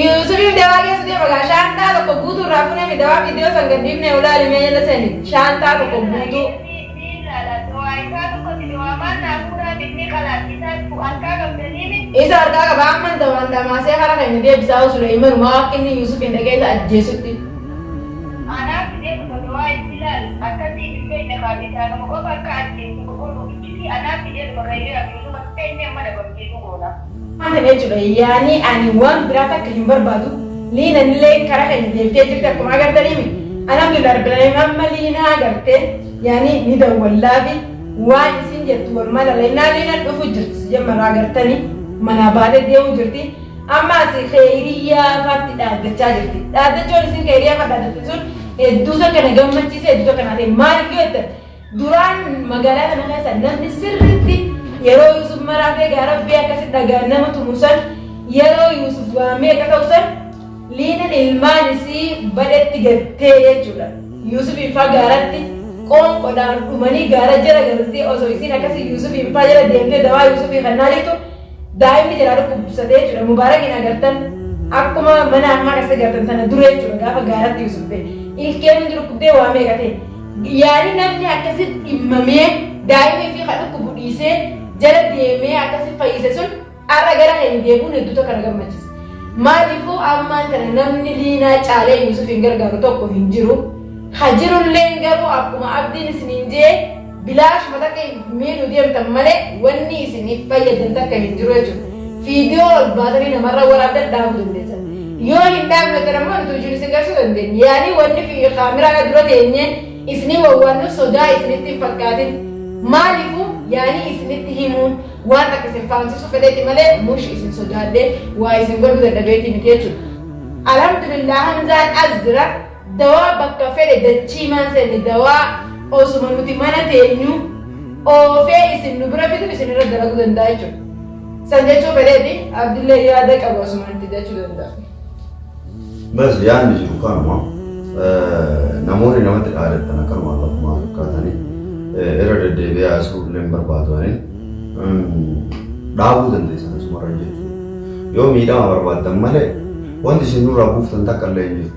Yuusufiif dawaa geessu deema gaa shaantaa tokko guutuu irraa funeemi dawaa viidiyoo san gadhiifnee olaali mee jala seeni shaantaa tokko guutuu. Isa harkaa qaba amman dawaan dhamaasee hara keenya deebisaa osoo Suleeyman maa akka inni Yuusufiin dhagee isa ajjeesutti. ni dhugoona. Kan jechu dha yaani ani wan biraa takka hin barbaadu liina nileen kara keenya deebitee jirti akkuma agartaniimi alhamdulillah rabbil alamin amma liina agarte yaani ni dawwallaafi waan isin jettu walumaa lalla innaa liinan dhufu jirti sijammarra agartani manaa baate deemu jirti amma asi keeyriyyaa faatti dhaaddachaa jirti dhaaddachoon isin keeyriyyaa fa dhaaddatte sun hedduu takka na gammachiise hedduu takka naa ta'e maaliif yoo jettan Duraan magaalaa kana keessa namni sirriitti yeroo Yuusuf maraatee gaa rabbii akkasi dhagaan nama tumu san yeroo Yuusuf waa meeqa ta'u san liinan ilmaan isii badhetti gattee jechuudha. Yuusufiin faa gaaratti qoonqodhaan dhumanii gaara jala galtee osoo isiin akkasi Yuusufiin faa jala deemtee dawaa Yuusufii kan naalitu daa'imni jalaa dhukkubsatee jechuudha. Mubaarakiin agartan akkuma mana ammaa keessa gartan tana dura jechuudha gaafa gaaratti Yuusuf ta'e. Ilkeen hundi dhukkubdee waa meeqa ta'e. Yaali namni akkasi dhimmamee daa'ima ifii ka dhukkubu dhiisee jala deemee akkasi fayyise sun har'a gara keenya deebi'uun hedduu tokko na gammachiisa. Maaliifuu ammaan kana namni liinaa caalee Yuusuf hin gargaaru tokko hin jiru. Ha jirullee garuu akkuma abdiin isiniin jee bilaashuma takka miidhu deemtan malee wanni isiniif fayyadan takka hin jiru jechuudha. Viidiyoo ol baatanii namarra waraabdan dhaabuu dandeessan. Yoo hin dhaabnatan ammoo nuti hojiin isin garsuu dandeenya. Yaanii wanni fi kaameraa dura teenye isinii wawwaannu sodaa isinitti hin fakkaatin. Maaliifuu yaanii isinitti himuun waan akka isin faamsisu fedheeti malee mush isin sodaadhee waa isin godhuu dadhabeetii miti jechuudha. Alhamdulillah Hamzaan as jira. Dawaa bakka fedhe dachiimaan seenne dawaa osuma nuti mana teenyuu oofee isin nu bira fidu isin irra dalaguu danda'a jechuudha. San jechuu fedheeti Abdillee yaada qabu asuma itti jechuu danda'a. Bas yaadni jiru kanuma namoonni namatti dhaadattan akkanumaan lafumaa fakkaatanii irra deddeebi'ee haasa'uu illee hin barbaadu ani dhaabuu dandeessan asumarra jechuudha. Yoo miidhama barbaaddan malee wanti isin nurraa buuftan takka illee hin jiru.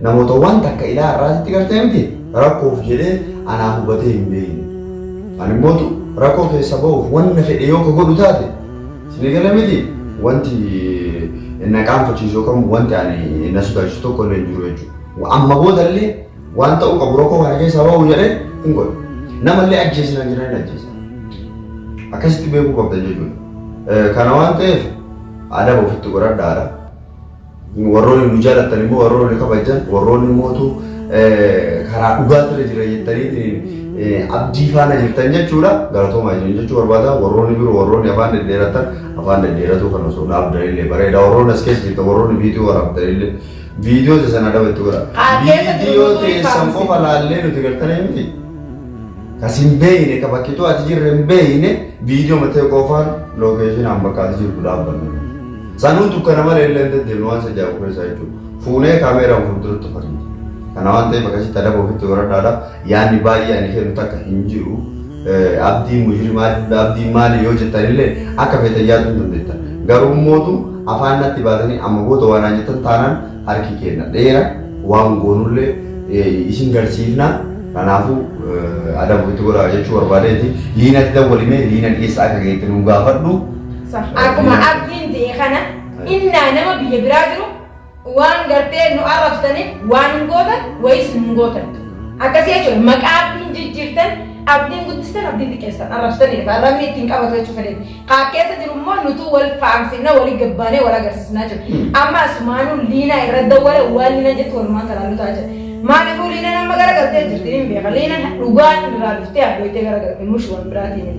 Namoota waan takka ilaa har'aa sitti gartee miti rakkoof jedhee anaa hubatee hin beeyne. Ani mootu rakkoo keessa ba'uuf wanna fedhe yoo ka godhu taate sini gale miti wanti na qaanfachiisu yookaan wanti ani na sodaachisu tokko illee hin jiru jechuudha. Amma booda illee waan ta'uu qabu rakkoo kana keessaa ba'uu jedhee hin godhu. Nama illee ajjeesi naan jedhan hin ajjeesa. Akkasitti beekuu qabdan jechuudha. Kana waan ta'eef adaba ofitti godhadhaadha. Warroonni nu jaalattan immoo warroonni nu kabajjan warroonni mootu karaa dhugaatirra jira jettanii abdii faana jirtan jechuudha. Galatoomaa isin jechuu barbaada. Warroonni biroo warroonni afaan dhedheeratan afaan dhedheeratuu kan osoo dhaabdan illee bareeda. Warroonni as keessa jirtan warroonni viidiyoo waraabdan illee viidiyoo teessan adaba itti godha. Viidiyoo teessan qofa laallee nuti gartanii miti. Kasin beeyne ka bakkituu ati jirre hin beeyne viidiyoo matee qofaan lookeeshinaan bakka ati jirtu dhaabbanna. Sanuu dukkana malee illee hin deddeemnu waan isa jaabu keessaa jechuudha. Fuunee kaameeraan fuulduratti uffatiiti. Kana waan ta'eef akkasitti adaba ofitti horadhaadha. Yaanni baay'ee ani kennu takka hin jiru. Abdii mujrimaa jechuudha. Abdii maali yoo jettan illee akka feetan yaaduu hin dandeettan. Garuu immootu afaan natti baatanii amma booda waan naan jettan taanaan harki keenna dheera waan goonullee isin garsiifna. Kanaafuu adaba ofitti godhaa jechuu barbaadeeti. Liinatti dawwalimee liina dhiyeessa akka geette nuu gaafadhu. Akkuma abdiin je'e kana innaa nama biyya biraa jiru waan gartee nu arrabsaniif waan hin gootan wayis hin gootan. Akkasii jechuudha maqaa abdiin jijjiirtan abdiin guddistan abdiin xiqqeessan arrabsitaniidha. Arrabni ittiin qabatu jechuu fedheeti. Kaa keessa jiru immoo nutuu wal faamsifna walii gabbaanee wal agarsiisnaa jiru. Amma asumaanuu liinaa irra dawwale waan liina jettu walumaan kanaan nu ta'a jira. Maaliifuu liinaan amma gara galtee jirti hin beeka. Liinaan dhugaa irraa dhuftee abbooytee gara galte mush waan biraatiin.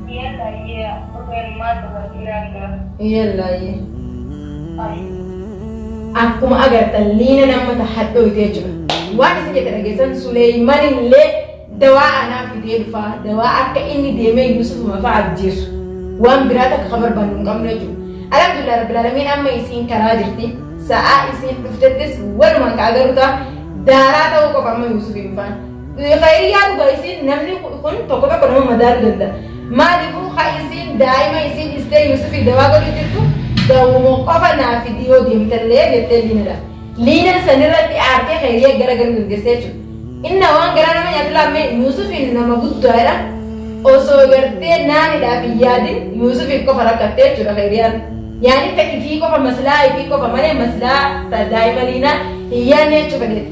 Iyallaayyee dhugani maal dubartii raani garaf. Iyallaayyee. Ayii. Akkuma agartan liinan amma ta hadhooyte jechuudha. Waan isin jette dhageessan Suleeyman illee dawaa anaa fidee dhufaa dawaa akka inni deemee Yuusufuma fa'aa ajjeesu waan biraa takka ka barbaannu hin qabnu jechuudha. Alhamdulillah Rabbil Alamiin amma isiin karaa jirti. Sa'aa isiin dhuftettis walumaan ka agarru ta'a. Daaraa ta'uu qofa amma Yuusufiin faan. Khayriyyaa dhuga isiin namni kun tokko tokko nama madaalu danda maalifu ha isiin daa'ima isiin dhistee yusufi dawaa godhu jirtu dawuma qofa naa fidii yoo deemtallee jettee liinadha liinan sanirratti aartee khayriyyaa gara garu dandeessee jechuudha inna waan garaa nama nyaatu laamme yusufi nama guddaadha osoo gartee naanidhaaf hin yaadin yusufiif qofa rakkattee jechuudha khayriyyaan yaani ta ifii qofa maslaa ifii qofa malee maslaa ta daa'ima liinaa hin yaanne jechuu fedheeti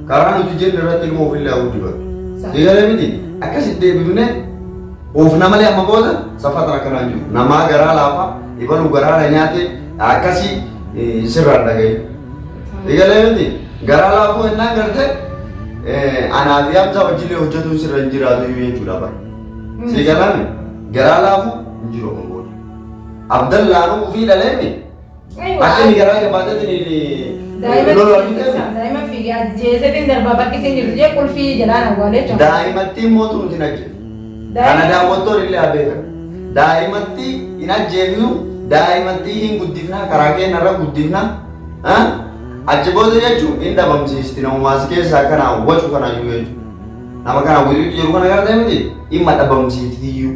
Karaa nuti jenne irratti ilmoo ofillee haa guddifatu. Sii galee miti? Akkas itti deebifnee oofna malee amma booda saffatan akkanaa hin jiru. Namaa garaa laafa, ibalu garaa na nyaate akkasii eh, sirraan dhagahi. Sii galee miti? Garaa laafuu hennaan garte eh, anaa fi Hamzaa wajjillee hojjetuun sirra hin jiraatu iyyuu jechuudha bara. Sii galaan garaa laafuu hin jiru amma booda. Abdallaanuu ofii dhaleemi. Akka inni garaa jabaatatiin Daa'ima fiigee ajjeesetiin darbaa bakki isin jirtu jee qulfii jedhaan awwaalee jechuudha. Daa'imattiin mootu nuti hin ajjeesu. Kana daawwattoon illee abeekan. Daa'imatti hin ajjeefnu, daa'imatti hin guddifna, karaa keenya irra guddifna. Ah? Achi booda jechuun hin dhabamsiisti namumaas keessaa kana wacu kana iyyuu jechuudha. Nama kana wiliitu jedhu kana gara ta'e miti dhimma dhabamsiifti iyyuu.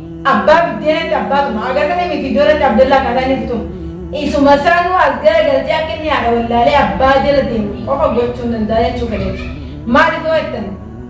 Abbaa biddeenatti abbaatuma. Agartanii miti iddoo irratti Abdallaa akkaataa inni itti tumu. Isuma saanuu as gara galchee akka inni haadha wallaalee abbaa jala deemu qofa gochuun danda'a jechuu fedheeti. Maaliif yoo jettan